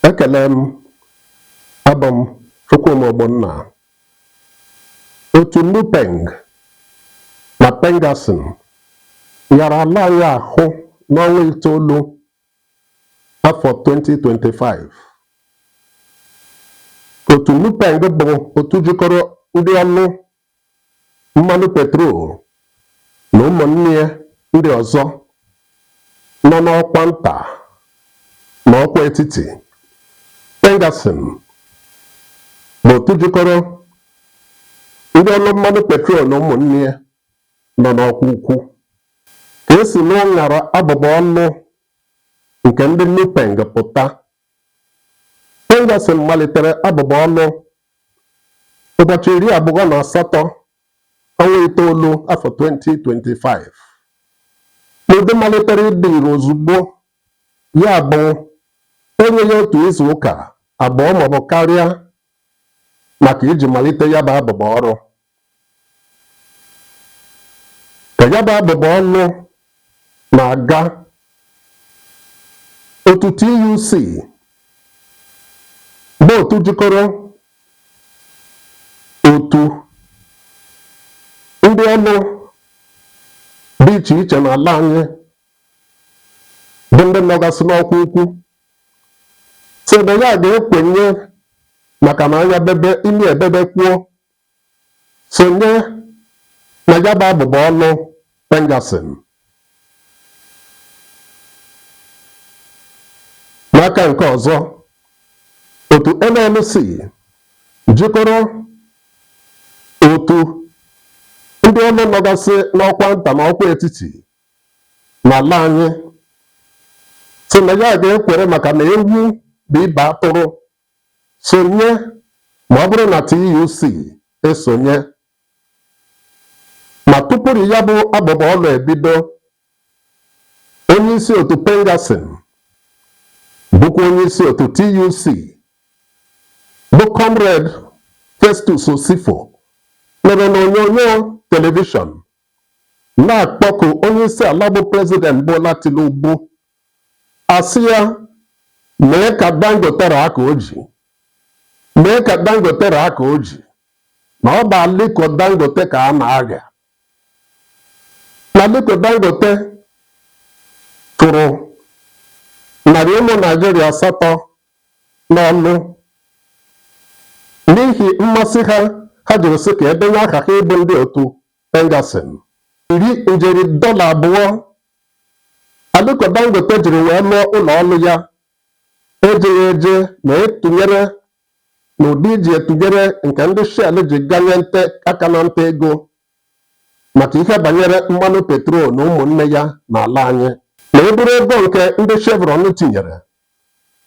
ekele m abụ m Chukwuma Ogbonna otu NUPENG na PENGASSAN nyara ala anyị ahụ n'ọnwa itoolu afọ 2025 otu NUPENG bụ otu jikọrọ ndị ọrụ mmanụ petrol na ụmụnne ya ndị ọzọ nọ n'ọkwa nta na ọkwa etiti PENGASSAN bụ otu jikọrọ ndị ọrụ mmanụ petrol na ụmụnne ya nọ n'ọkwa ukwu ka e si n'ụṅara abụbọ ọrụ nke ndị NUPENG pụta. PENGASSAN malitere abụbọ ọrụ ụbọchị iri abụọ na asatọ ọnwa itoolu afọ 2025 n'ụdị malitere ịdị ire ozugbo ya bụ enyeghị otu izu ụka abụọ maọbụ karịa maka iji malite ya bụ abụbọ ọrụ ka ya bụ abụbọ ọrụ na-aga otu TUC bụ otu jikọrọ otu ndị ọrụ dị iche iche n'ala anyị bụ ndị nọgasị n'ọkwa ukwu sị na ya ga-ekwenye maka na anya bebe imi ebebekwuo sonye na ya bụ abụbọ ọrụ PENGASSAN. N'aka nke ọzọ, otu NLC jikọrọ otu ndị ọrụ nọgasị n'ọkwa nta na ọkwa etiti n'ala anyị sị na ya ga-ekwere maka na ewu bụ ibe atụrụ Sonye ma ọ bụrụ na TUC esonye ma tupuru ya bụ abụbọ ọlụ ebido. Onyeisi otu PENGASSAN bụkwa onyeisi otu TUC bụ Comrade Festus Osifo nọrọ n'onyonyo telivishọn na-akpọku onyeisiala bụ President Bola Tinubu asị ya mee ka Dangote raa aka o ji mee ka Dangote raa aka o ji na ọ bụ Aliko Dangote ka a na-agha na Aliko Dangote chụrụ narị ụmụ Naijiria asatọ n'ọlụ n'ihi mmasị ha ha jiri sị ka e denye aha ha ịbụ ndị otu Pengassan iri njeri dọla abụọ Aliko Dangote jiri wee lụọ ụlọ ọlụ ya ejeghị eje na etụnyere na ụdị iji etụnyere nke ndị Shell ji ganye nte aka na nta ego maka ihe banyere mmanụ petrol na ụmụnne ya n'ala anyị. Na e buru ego nke ndị Chevron tinyere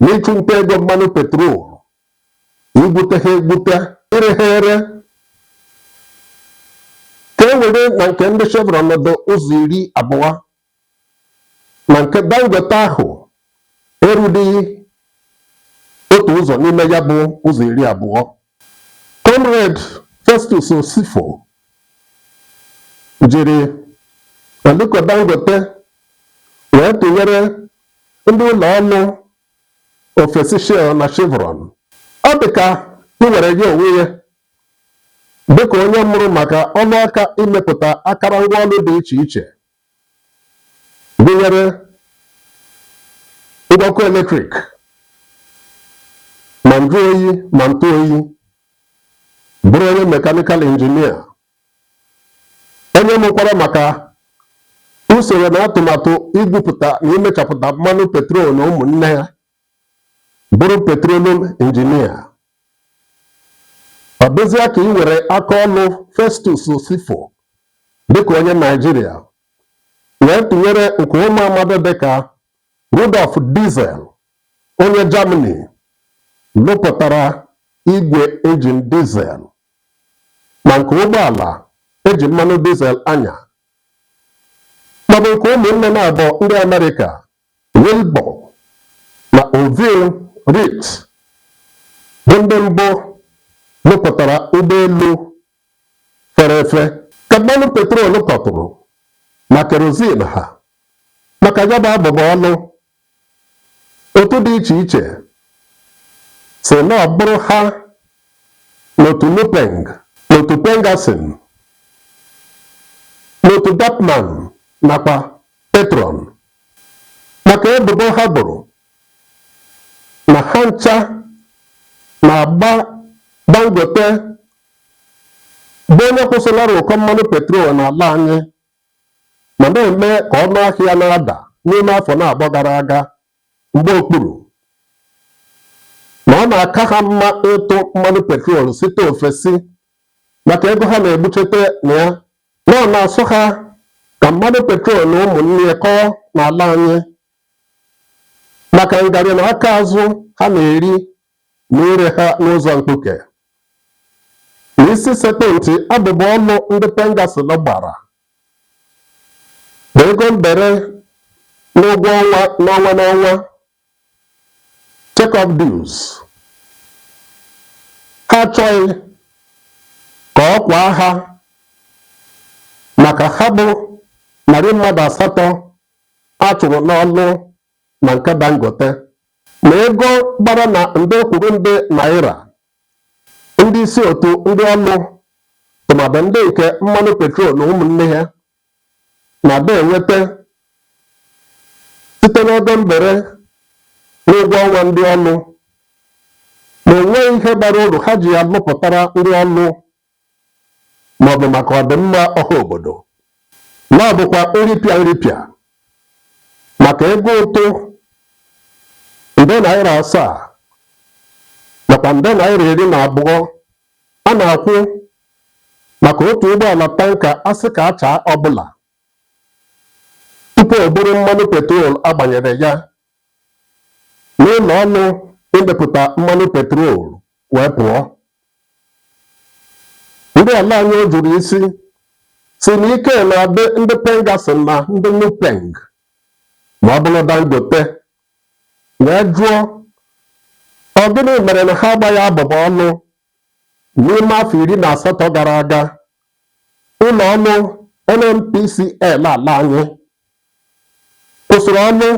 n'ịchụ nta ego mmanụ petrol igwute ha egwute ire ha ere ka e were na nke ndị Chevron nọdụ ụzọ iri abụọ na nke Dangote ahụ erughị otu ụzọ n'ime ya bụ ụzọ iri abụọ Comrade Festus Osifo jiri Aliko Dangote wee tụnyere ndị ụlọ ọlụ ofesi Shell na Chevron. Ọ dị ka i were ya onwe ya dịka onye mụrụ maka ọlụ aka imepụta akarangwa ọlụ dị iche iche gụnyere ngwa ọkụ eletrik ma njụ oyi ma ntụ oyi bụrụ onye mekanikal injinia onye mụkwara maka usoro na atụmatụ igwupụta na imechapụta mmanụ petrol na ụmụnne ya bụrụ petroleum injinia ọ dịzịa ka i were aka ọlụ Festus Osifo dịka onye Naijiria wee tụnyere nke ụmụ amadi dịka Rudolf Diesel onye Germany lụpụtara igwe injin diesel ma nke ụgbọala e ji mmanụ diesel anya maọbụ nke ụmụnne na-abụ ndị Amerịka Wilbur na Orville Wright bụ ndị mbụ lụpụtara ụgbọelu fere efe ka mmanụ petrol kọtụrụ na kerozin ha maka ya bụ abụbọ ọlụ otu dị iche iche sị na ọ bụrụ ha n'otu Nupeng n'otu Pengassan n'otu Dappman nakwa Petroan maka ebubo ha bụrụ na ha ncha na-agba Dangote bụ onye kwụsịlara ụkọ mmanụ petrol n'ala anyị ma na-eme ka ọnụ ahịa na-ada n'ime afọ naabọ gara aga mgba okpuru na ọ na-aka ha mma ịtụ mmanụ petrol site ofesi maka ego ha na-egbuchete na ya na ọ na-asọ ha ka mmanụ petrol na ụmụnne ya kọọ n'ala anyị maka ngarị na aka azụ ha na-eri na ire ha n'ụzọ mkpuke. Na isi sekpụ ntị abụbọ ọlụ ndị Pengassan gbara bụ ego mbere n'ụgwọ ọnwa n'ọnwa n'ọnwa Check-off dues. Ha achọghị ka ọ kwaa ha maka ha bụ narị mmadụ asatọ a chụrụ n'ọlụ na nke Dangote na ego gbara na nde kwuru nde naira ndị isi otu ndị ọlụ tụmadụ ndị nke mmanụ petrol na ụmụnne ha na-adị enweta site n'ego mbere n'ụgwọ ọnwa ndị ọlụ na o nweghị ihe bara uru ha ji ya lụpụtara ndị ọlụ maọbụ maka ọdịmma ọha obodo na ọ bụkwa nripịa nripịa maka ego ụtụ nde naira asaa nakwa nde naira iri na abụọ A na-akwụ maka otu ụgbọala tanka asị ka achaa ọbụla tupu o buru mmanụ petrol a gbanyere ya n'ụlọ ọlụ imepụta mmanụ petrol wee pụọ. Ndị ala anyị jụrụ isi sị na ike na-adị ndị Pengassan na ndị Nupeng ma ọ bụrụ Dangote wee jụọ ọ gịnị mere na ha agbaghị abụbọ ọlụ n'ime afọ iri na asatọ gara aga ụlọ ọlụ NNPCL ala anyị kwụsịrị ọlụ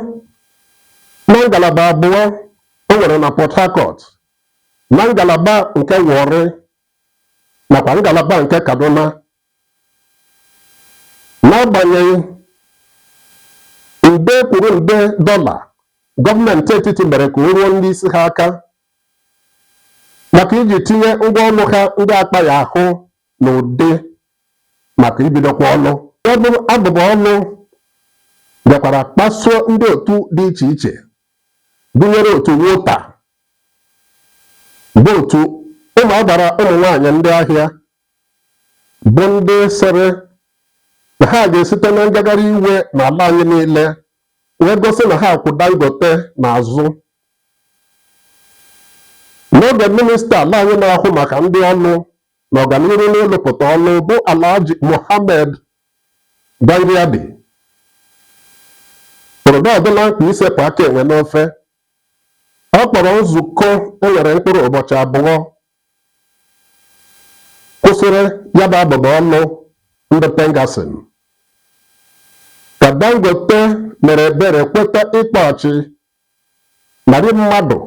na ngalaba abụọ o nwere na Port Harcourt na ngalaba nke Warri nakwa ngalaba nke Kaduna n'agbanyeghị nde kwuru nde dọla gọọmenti etiti mere ka o ruo ndị isi ha aka maka iji tinye ngwa ọlụ ha ndị akpaghị ahụ n'ụdị maka ibidokwa ọlụ ya bụ abụbọ ọlụ bịakwara kpasuo ndị otu dị iche iche gụnyere otu Wotan bụ otu ụmụ agbara ụmụ nwaanyị ndị ahịa bụ ndị sịrị na ha ga-esite na ngagharị iwe n'ala anyị niile wee gosi na ha kwụ Dangote n'azụ n'oge minista ala anyị na-ahụ maka ndị ọlụ na ọganiru n'ịlụpụta ọlụ bụ Alhaji Mohammed Dingyadi hụrụ na ọ dịla mkpa isepụ aka enwe n'ofe ọ kpọrọ nzukọ e nwere mkpụrụ ụbọchị abụọ kwụsịrị ya bụ abụba ọlụ ndị Pengassan ka Dangote mere ebere kweta ịkpọchi narị mmadụ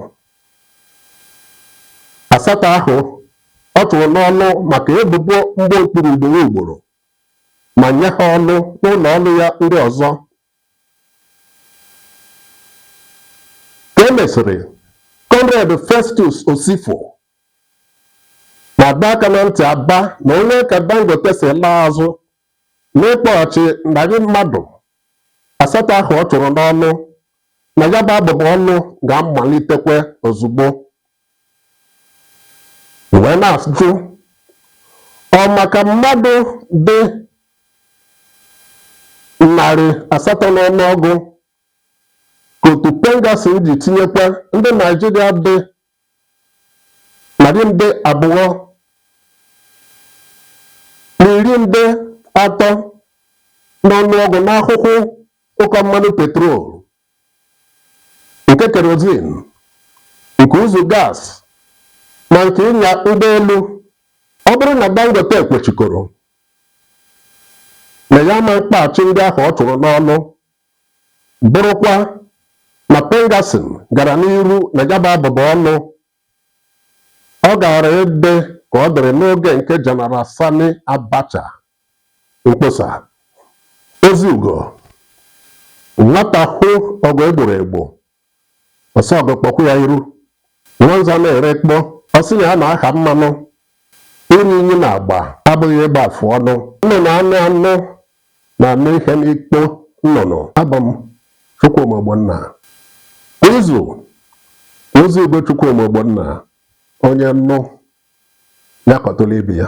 asatọ ahụ ọ chụrụ n'ọlụ maka ebubo mgba okpuru ugboro ugboro ma nye ha ọlụ n'ụlọ ọrụ ya ndị ọzọ ka e mesịrị comrade festus osifo na-adọ aka na ntị aba na onye ka dangote si laa azụ n'ịkpọghachi narị mmadụ asatọ ahụ ọ chụrụ n'ọlụ na ya bụ abụba ọlụ ga-amalitekwa ozugbo wee na-ajụ ọ maka mmadụ dị narị asatọ n'ọnụọgụ ka otu pengassan ji tinyekwa ndị naịjirịa dị narị nde abụọ na iri nde atọ n'ọnụọgụ n'ahụhụ ụkọ mmanụ petrol nke kerozin nke ụzụ gas na nke ịnya ụgbọelu ọ bụrụ na dangote kwechikoro na ya ama mkpọghachi ndị ahụ ọ chụrụ n'ọlụ bụrụkwa na pengassan gara n'iru na ya bụ abụba ọlụ Ọ gaara ịdị ka ọ dịrị n'oge nke General Sani Abacha. Mkpọsa Ozi Ugo. Nwata hụ ọgụ e gboro egbo, ọ sị ọgụ kpọkwuo ya iru. Nwanza na-erekpọ, ọ sị na ya na-aha mmanụ Iru inyi n'agba abụghị ịgba afụ ọnụ. Nnụnụ anụ anụ na-anụ ihe n'ikpo nnụnụ. Abụ m Chukwuma Ogbonna. Kwa izu, Ozi Ugo Chukwuma Ogbonna, onye nụ ya kọtụrụ ibe ya.